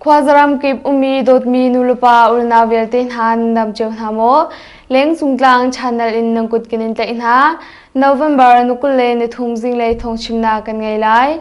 Khuazaram kip umi dawtmi nulepa ulna vialte hna nam ceu hna maw? Leng sungtlang channel in nang kut kinin tlaih hna. November nukul le nithum zing lei thong chimna kan ngei lai.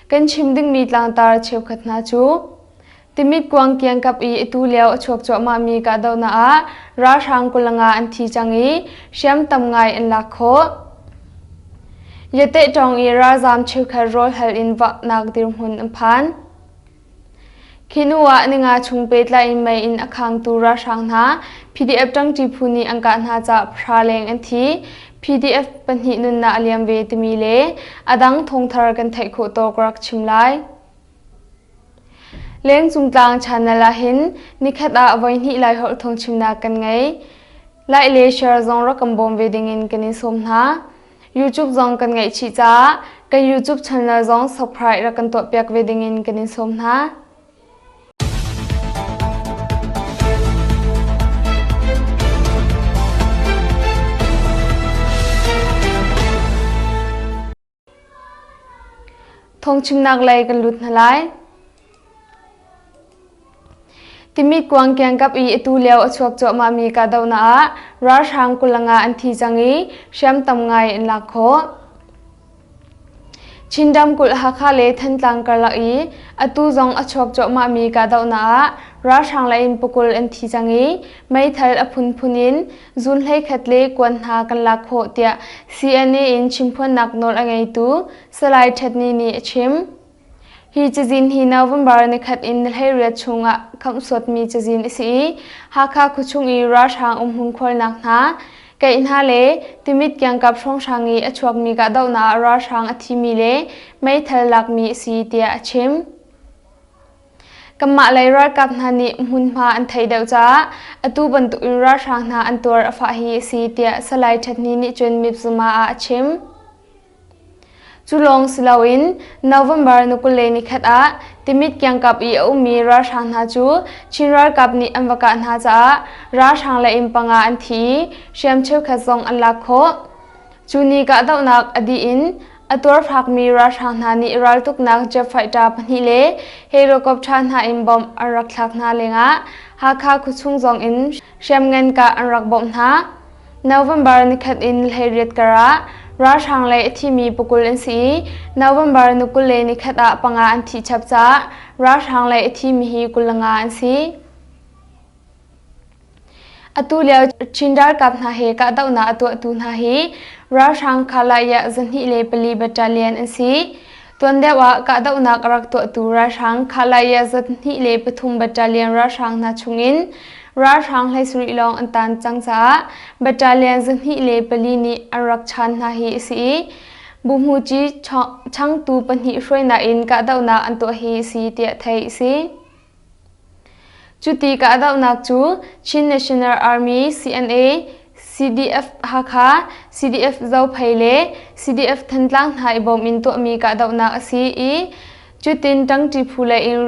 Kan chim dingmi tlangtar cheukhat hna cu Timit kuang kiangkap i atu lio a chuak cuahmahmi kahdohnak ah ralhrang kulanga an thi cang i hriam tam ngai an lak khawh. Yateh Tawng i ralzam cheukhat rawl hal in vaknak dirhmun an phan. Khi hnu ah ninga chung pehtlai in mei in a khangtu ralhrang hna PDF tangṭi phu nih an kah hna caah pahra leng an thi. PDF pahnih nunnak a liam ve timi le a dang thawngthar kan theih khawh tawk rak chim lai. Lengcung tlang chanel ahhin nikhat ah voihnih Laiholh phungchimnak kan ngei. Lai le share zong rak kan bawm ve dingin kan in sawm hna. YouTube zong kan ngaih chih caah kan YouTube channel zong subscribe rak kan tuahpiak ve dingin kan in sawm hna. Thongchungnak lei kan lut hna lai. Timi kuang kiang kap i atu lio a chuak cuahmah mi ka dohna ah ralhrang kulanga an thi cang i hriamtam ngai in lak khawh. Chin kulh Hakha le Thantlang karlak i atu zong a chuak cuahmah mi ka dohna ah ralhrang lei in pukul an thi cang i meithal a phunphun in Zuun hleikhat le kuan hna kan lak khawh tiah CNA in chimphuannak nawl a ngeitu Salai Ṭhatni nih a chim. Hi cazin hi November nikhat in ni hleiriat chungah khamh suatmi cazin a si i Hakha khuachung i ralhrang umhung khualnak hna, keih hna le Timit kiangkap hrawnghrang i a chuakmi kahdohnak ah ralhrang a thimi le meithal lakmi a si tiah a chim. Kanmah lei ralkap hna nih hmunhma an thei deuh caah atu bantuk in ralhrang hna an tuar a fah hi a si tiah Salai Ṭhatni nih cun Mipzuma ah a chim. Cu lawng si loin November ni kul le ni khat ah Timit kiangkap i a ummi ralhrang hna cu Chin ralkap nih an va kah hna caah ralhrang le inn panga an thi i hriam cheukhat zong an lak khawh. Cu ni kahdohnak a dih in a tuarfakmi ralhrang hna nih raltuknak jet fighter pahnih le helicopter hna in bomb an rak thlak hna lengah Hakha khuachung zong in hriamngan kah an rak bawmh hna. November nikhat in hleiriat kar ah ralhrang le a thimi pakul an si i November ni kul le nikhat ah panga an thi chap caah ralhrang le a thimi hi kul langa an si. Atulio Chin ralkap hna he kahdohnak a tuahtu hna hi ralhrang Kalaiyah zahnih le pali battalion an si. Tuan deuh ah kahdohnak a rak tuahtu ralhrang Kalaiyah zahnih le pathum battalion ralhrang hna chungin ralhrang hleisarih lawng an tan cang caah battalion zahnih le pali nih an rak chan hna hi a si i Buhmuci changtu pahnih hruainak in kahdohnak an tuah hi a si tiah theih a si. Cuti ka dohnak cu Chin National Army CNA, CDF-Hakha, CDF-Zophei le CDF-Thantlang hna i bawm in tuahmi kahdohnak a si i cutin ṭangṭi phu lei in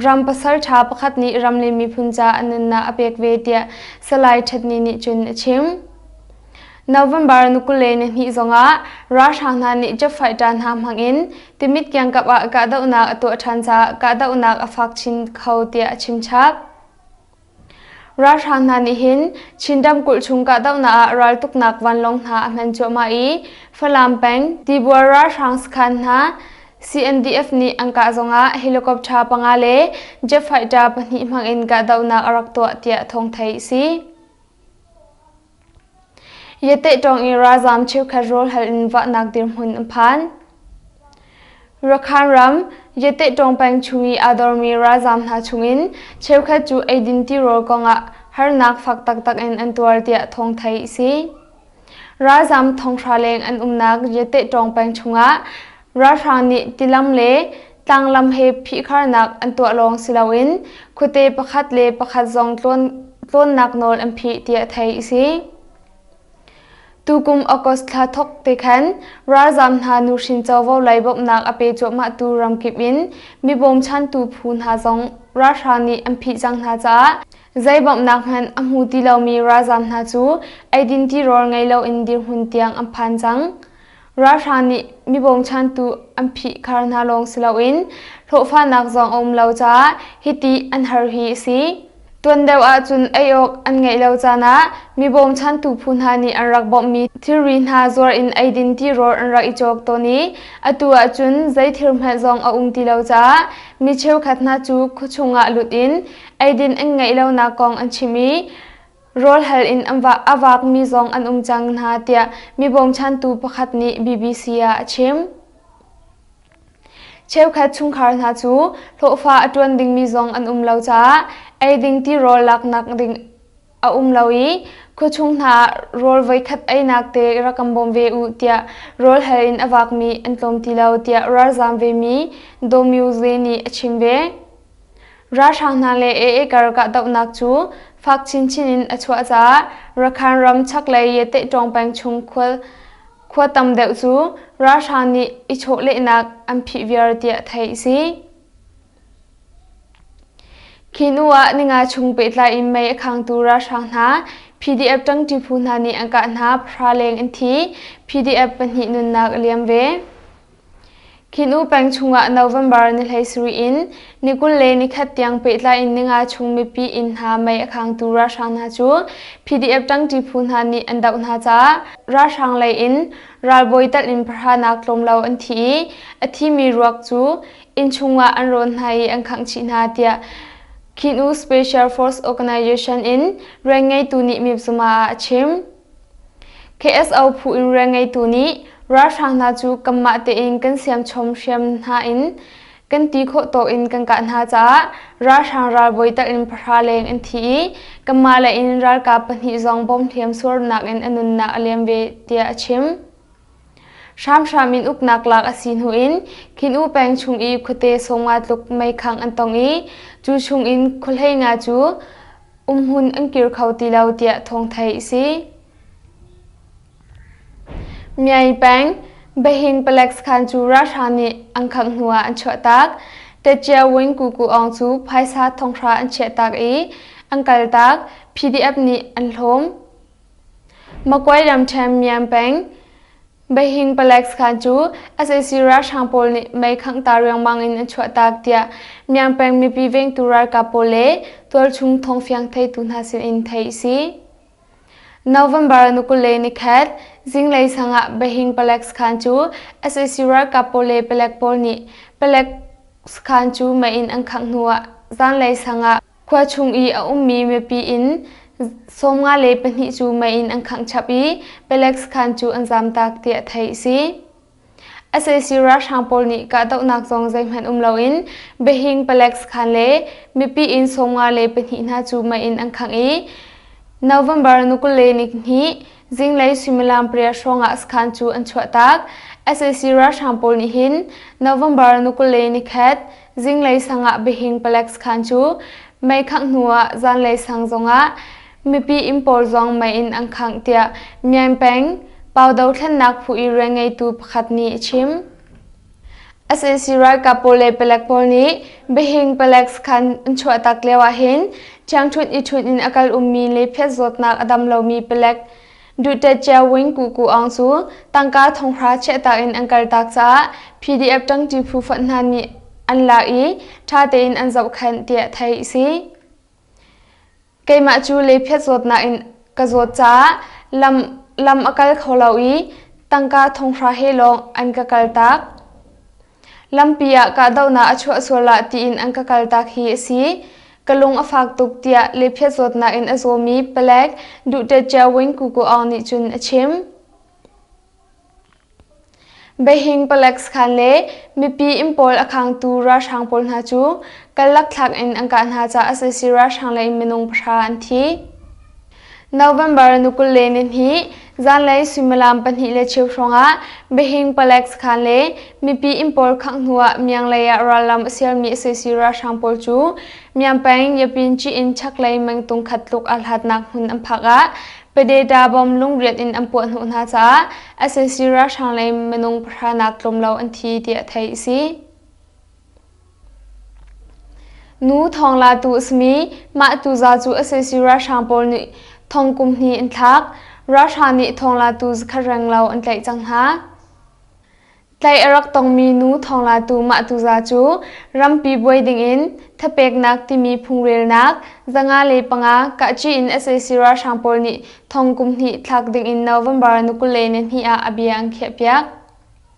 ram pasalṭha pakhat nih Ramlin miphun caah nunnak a pek ve tiah Salai Ṭhatni nih cun a chim. November ni kule ni hnih zongah ralhrang hna nih jet fighter hna hmangin Timit kiangkap ah kahdohnak a tuah ṭhan caah kahdohnak a fak chin kho tiah a chimchap. Ralhrang hna nih hin Chin ramkulh chung kahdohnak ah raltuknak vanlawng hna a hman cuahmah i Falam peng Tibuar ralhrang sakhan hna CNDF nih an kah zongah helicopter panga le jet fighter pahnih hmangin kahdohnak a rak tuah tiah thawng theih a si. Yateh ṭawng i ralzam cheukhat rawl hal in vaknak dirhmun a phan. Rakhan ram Yateh ṭawng peng chung i aa dormi ralzam hna chungin cheukhat cu eidin tirawl kongah harnak fak taktak in an tuar tiah thawng thei a si. Ralzam thonghra leng an umnak Yateh ṭawng peng chungah Ralhrang nih tilam le tlanglam he phihkharnak an tuah lawng si loin khuate pakhat le pakhat zong tlawnnak nawl an phih tiah theih a si. Tukum August thla thawk te khan ralzaam hna nuhrin covo lei bawmhnak a pe cuahmahtu ramkip in mi bawmchantu phu hna zong ralhrang nih an phih cang hna caah zei bawmhnak hmanh a hmu ti lomi ralzaam hna cu eidin tirawl ngei loin dirhmun tiang an phan cang. Ralhrang nih mi bawmchantu an phihkhar hna lawng si loin hlawhfanak zong a um lo caah hiti an har hi a si. Tuan deuh ahcun ei awk an ngeih lo caan ah mi bawmchantu phu hna nih an rak bawmhmi thilri hna zuar in eidin tirawl an rak i cawk tawn i atu ahcun zei thil hmanh zong a um ti lo caah mi cheukhat hna cu khuachung ah lut in eidin an ngeih lonak kong an chim i Rawlhal in a vaakmi zong an um cang hna tiah mi bawmchantu pakhat nih BBC ah a chim. Cheukhat chungkhar hna cu hlawhfa a ṭuan dingmi zong an um lo caah eiding tirawl laknak ding a um lo i khuachung hna ah rawl voikhat einak te rak kan bawm ve u tiah rawlhal in a vaakmi an tlawm ti lo tiah ralzaam vemi Daw Myo Zae nih a chim ve. ralhrang hna le ee kar kahdohnak cu fak chinchin in a chuah caah rakhan ram chaklei yatehṭawng peng chung khua tam deuh cu ralhrang nih i chawhlehnak an phih viar tiah theih a si khi hnu ah ninga chung pehtlai in mei a khangtu ralhrang hna pdf ṭangṭi phu hna nih an kah hna phra leng an thi pdf pahnih nunnak a liam ve Khi nu peng chungah November ni hleisarih in ni kul le nikhat tiang pehtlai in ni nga chung mipi inn hna mei a khangtu ralhrang hna cu PDF ṭangṭi phu hna nih an doh hna caah ralhrang lei in ralbawi telh in pahranak tlawmlo an thi i a thimi ruak cu inn chungah an rawn hna i an khangh chih hna tiah Khinu Special Force Organisation in rian ngeitu nih mipzuma ah a chim. KSO phu in rian ngeitu nih ralhrang hna cu kanmah tein kan siamchom hriam hna in kan ti khawh tawk in kan kah hna caah ralhrang ralbawi tak in pahra leng an thi i kanmah lei in ralkap pahnih zong bom hliam suarnak in a nunnak a liam ve tiah a chim. hramhram in uknak lak a si hnu in khin u peng chung i khuate sawmnga tluk meikhang an tong i cu chung in khuahlei nga cu Umhmun an kir kho ti lo tiah thawngthei a si. Myayi peng Bahin Palax khan cu ralhrang nih an khamh hnu ah an chuahtak. Techia Wing Kuku Aung cu phaisa thonghra an chiahtak i an kaltak. PDF nih an hlawm. Magway ramṭhen Myan peng Baihing Palax khan cu sac ralhrang pawl nih mei khanghta riangmang in an chuahtak tiah Myan peng mipi vengtu ralkap pawl le tualchung thawngfiang theitu hna sinin theih a si. November ni kul le nikhat zinglei sang ah Baihing Palax khan cu sac ralkap pawl le palek pawl nih Palax khan cu mei in an khangh hnu ah zanlei sang ah Khua chung i a ummi mipi in sawmnga le pahnih cu mei in an khangh chap i palek sakhan cu an zaam taak tiah theih a si. SAC ralhrang pawl nih kahdohnak zong zeihmanh um loin Behing palek sakhan le mipi in sawmnga le pahnih hna cu mei in an khangh i November ni kul le ni hnih zinglei suimilam pariat hrawngah sakhan cu an chuah taak. SAC ralhrang pawl nih hin November ni kul le ni khat Zinglei sang ah Bihing Palace khan cu mei khangh hnu ah zanlei sang zongah mipi inn pawl zong mei in an khangh tiah Myan Peng Pawdo thlennak phu i rian ngeitu pakhat nih a chim. SNC ralkap pawl le palek pawl nih Bihing Palace khan an chuahtak lio ahhin ṭhiangṭhunh i ṭhunh in a kal ummi le phiat zawtnak a dam lomi palek Dute Cia Wing Ku Ku Aung cu tangka thonghra chiahtak in an kaltak caah PDF ṭangṭi phu fonh hna nih an lak i ṭha tein an zohkhenh tiah theih a si. Keimah cu lephiat zawtnak in ka zawt caah lam, lam a kal kho lo i tangka thonghra he lawng an ka kaltak. Lampi ah kahdohnak a chuah sual ah tiin an ka kaltak hi a si. Ka lung a fak tuk tiah lephiat zawtnak in a zawmi palek Duhte Cia Win Kuku Aung nih cun a chim. Beijing Palex khan le mipi in pawl a khangtu ralhrang pawl hna cu kallak thlak in an kah hna caah sasi ralhrang lei minung pahra an thi. November ni kul le ni hnih zanlei suimilam pahnih le cheu hrawngah Behing Palace khan le mipi inn pawl khangh hnu ah mianglei ah rallam a sialmi sac ralhrang pawl cu Myanpeng Yapinci in chaklei mengtung khat tluk ah hlatnak hmun an phak ah Padeta bomb lungriat in an puah hnawh hna caah sac ralhrang lei minung pahranak tlawm lo an thi tiah theih a si. Nu thong latu a simi mah tuza cu a saisii ralhrang pawl nih thong kum hnih an thlak. Ralhrang nih thong latu zakhat renglo an tlaih cang hna. Tlaih a rak tongmi nu thong latu mah tuza cu rampi buai dingin thapeknak timi phungrelnak zanga le panga kahci in a saisii ralhrang pawl nih thong kum hnih thlak dingin November ni kul le ni hnih ah a bia an khiahpiak.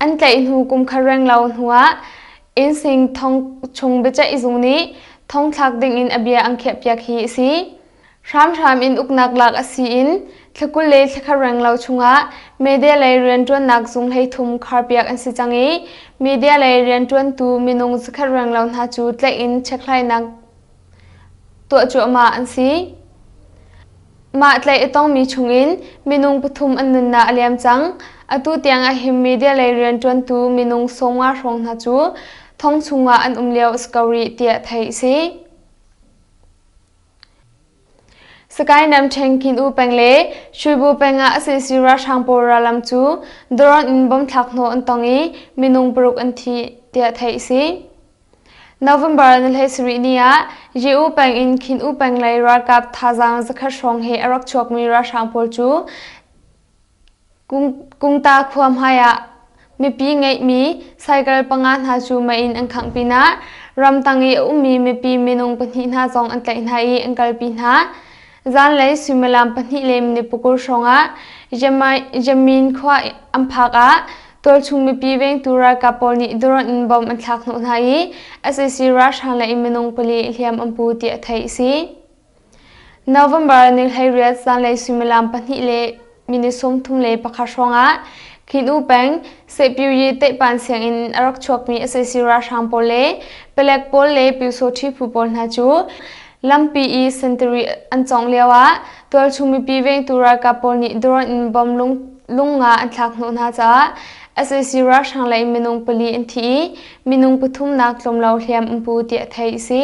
An tlaih hnu kum khat renglo hnuah Innseng thong chung biaceih zung nih thong thlak dingin a bia an khiahpiak hi a si. Hramhram in uknak lak a si in thlakul le thlakhat renglo chungah media lei rianṭuannak zung hleithum kharpiak an si cang i media lei rianṭuantu minung zakhat renglo hna cu tlaih in chekhlainak tuah cuahmah an si. Mah tlaih a tongmi chungin minung pathum an nunnak a liam cang. Atu tiang a him media lei rianṭuantu minung sawmnga hrawng hna cu thong chungah an um lio a si ko rih tiah theih a si. Sakainam ṭhengkhin u peng le Shuibu peng ah sac ralhrang pawl rallam cu drone in bomb thlakhnawh an tong i minung paruk an thi tiah theih a si. November ni le sarih ni ah Ye-u peng in Khin-u peng lei ralkap thazaang zakhat hrawng he a rak chuakmi ralhrang pawl cu Kungta khua hmaiah mipi ngeihmi cycle panga hna cu mei in an khangh pinah ramtang i a ummi mipi minung pahnih hna zong an tlaih hna i an kalpi hna. Zanlei suimilam pahnih le minute pakul hrawngah Yamin khua an phak ah tualchung mipi vengtu ralkap pawl nih drone in bom an thlak hnawh hna i SAC ralhrang le minung pali hliam an pu tiah theih a si. November ni hleiriat zanlei suimilam pahnih le minute sawmthum le pakhat hrawngah Khin U peng Sepyiri teihpan sianginn a rak chuakmi sac ralhrang pawl le palek pawl le pyusawṭhi phu pawl hna cu lampi i sentiri an cawngh lioah tualchung mipi vengtu ralkap pawl nih drone in bomb lung nga an thlak hnawh hna caah sac ralhrang lei minung pali an thi i minung pathumnak tlawmlo hliam an pu tiah theih a si.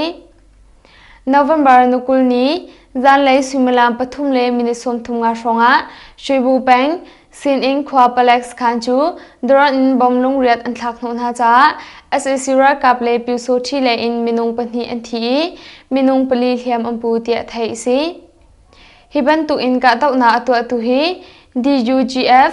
November ni kul ni zanlei suimilam pathum le minute sawmthum nga hrawngah Shuibu peng Sinin khua palek sakhan cu daron in bom lungriat an thlak hnawh hna caah SAC ralkap le Pyusawhthi lei in minung pahnih an thi i minung pali hliam an pu tiah theih a si. Hi bantuk in kahdohnak a tuahtu hi DUGF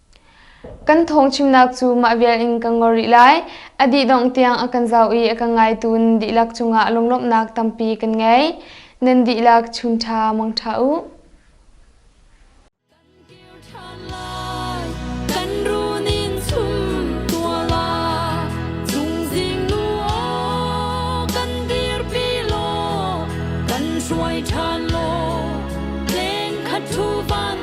Kan thawng chimnak cu mah vial in ka ngol rih lai. A dih dongh tiang a kan zau i a kan ngaitu nan dihlak cungah lunglawmhnak tampi kan ngei. Nan dihlak chun ṭha mong ṭha u.